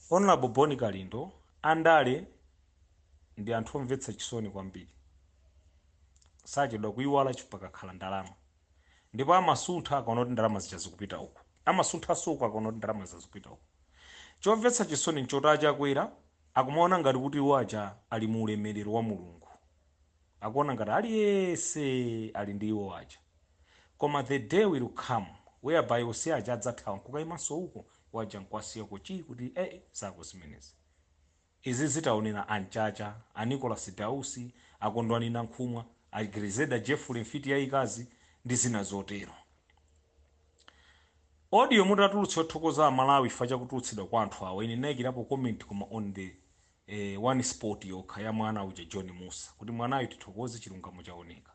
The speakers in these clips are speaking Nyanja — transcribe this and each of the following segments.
Honourable Bon Kalindo andale ndi anthu omvetsa chisoni kwambiri. Sachedwa kuiwala chifukwa pakakhala ndalama. Ndipo amasuntha akaona kuti ndalama zija zikupita uko. Amasunthanso uku akaona kuti ndalama zija zikupita uko. Chomvetsa chisoni n'choti a Chakwera akumaona ngati kuti iwo aja ali mu ulemelero wa Mulungu. akuona ngati aliyense ali ndi iwo aja koma the day will come whereby ose aja adzathawa nkukaimanso uko iwo aja nkuwasiya uko chii kuti ee zako zimenezi. izizi taonera a Mchacha, a Nicholas Dausi, a Kondwani Nankhumwa, a Grezelder Jeffrey mfiti yaikazi ndi zina zotero. Audio mutatulutsa yothokoza a Malawi chifukwa cha kutulutsidwa kwa anthu awa ine ndinaikirapo comment koma on the ee one spot yokha ya mwana uja john mussa kuti mwanayo tithokoze chilungamo chaoneka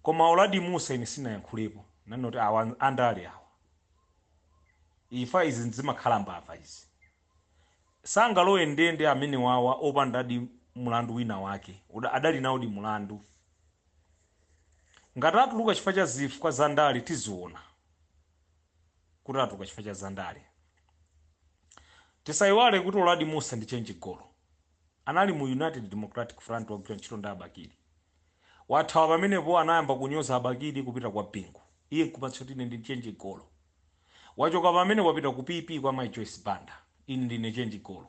koma uladi mussa ine sinayankhulepo nanena kuti awa andale awa ifa izi zimakhala mbava izi sangalowe ndende amenewawa opandadi mulandu wina wake Uda- adali nawodi mulandu ngati atuluka chifukwa cha zifukwa za ndale tiziona kuti atuluka chifukwa cha zandale. Tisaiwale kuti Uladi Mussa ndi chenji golo. Anali mu United Democratic Front wagwira ntchito ndi a Bakili. Wathawa pamenepo anayamba kunyoza a Bakili kupita kwa Bingu. Iye nkumatcha kuti ine ndi chenji golo. Wachoka pamenepo wapita ku PP kwa Mai Joyce Banda. Ine ndine chenji golo.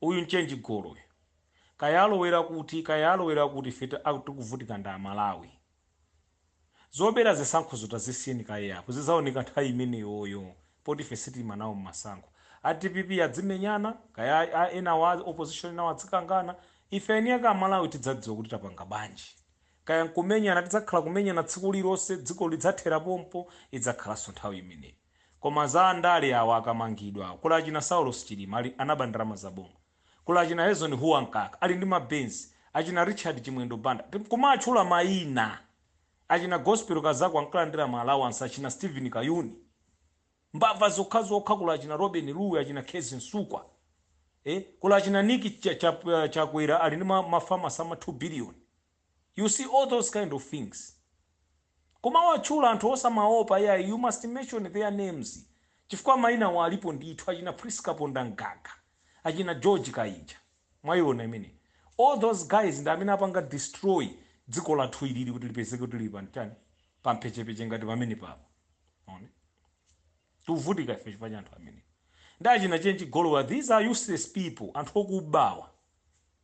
Uyu nchenji golo uyu. Kaya alowera kuti, kaya alowera kuti ife ta- a- tikuvutika ndi Amalawi. Zobera zisankhozo tazisiyeni kaye apo. Zidzaoneka nthawi imeneyoyo poti ife sitiima nawo m'masankho. A dpp adzimenyana, kaya a- a- enawa a opposition enawo adzikangana. Ife eni ake Amalawi tidzadziwa kuti tapanga bwanji. Kaya n'kumenyana tidzakhala kumenyana tsiku lililonse, dzikoli lidzathera pompo, idzakhalanso nthawi imeneyo. Koma za andale awa akamangidwa awa. Kuli achina Saulos Chilima ali anaba ndalama za boma. Kuli achina Eisenhower Mkaka ali ndi ma Benz. Achina Richard Chimwendo Banda. Kumatchula maina. Achina Gospel Kazako ankalandira ma allowance achina Steven Kayuni. Mbava zokhazokha kuli achina Lobin Lowe achina Kezzie Msukwa. Eh kuli achina Nick Cha- Cha- Chakwera ali ndi ma, ma farms ama 2 billion. you see all those kind of things kumawatchula anthu osamaopa iyayi you must mention their names chifukwa mainawo alipo ndithu achina prince kapondamgaga achina george kainja mwaiona imene all those guys ndi amene apanga destroy dziko lathu ilili kuti lipezeke kuti lili pamtani pampechepeche ngati pamenepapa Ona. tikuvutika ife chifukwa cha anthu amene ndi achina chenji golowa these are useless people anthu okubawa